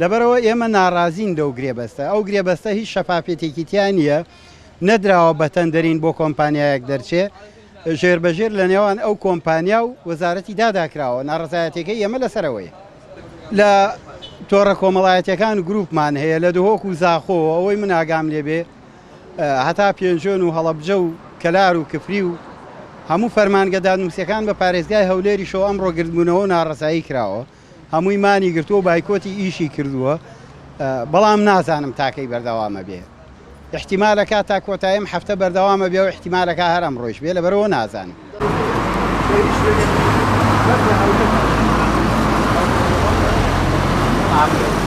لەبەرئەوە ئێمە ناڕازین لەو گرێبەستە، ئەو گرێبەستە هیچ شەفافیەتێکی تیا نییە، نەدراوە بە تەندەرین بۆ کۆمپانیایەک دەرچێ، ژێربەژێر لە نێوان ئەو کۆمپانیا و وەزارەتی دادا کراوە، ناڕەزایەتیەکەی ئێمە لەسەر ئەوەیە لە تۆڕە کۆمەڵایەتیەکان گروپمان هەیە لە دهۆک و زاخۆ و ئەوەی من ئاگام لێ بێ هەتا پێنجۆن و هەڵەبجە و کەلار و کفری و هەموو فەرمانگە دادنوسیەکان بە پارێزگای هەولێریشەوە ئەمڕۆ گردبوونەوە و ناڕەزایی کراوە. هەمووی مانی گرتووە و بایکۆتی ئیشی کردووە، بەڵام نازانم تا کەی بەردەوام ئەبێ. ئیحتیمالەکا تا کۆتایی ئەم هەفتە بەردەوام ئەبێ و ئیحتیمالەکا هەر ئەمڕۆیش بێ، لەبەرئەوە نازانم.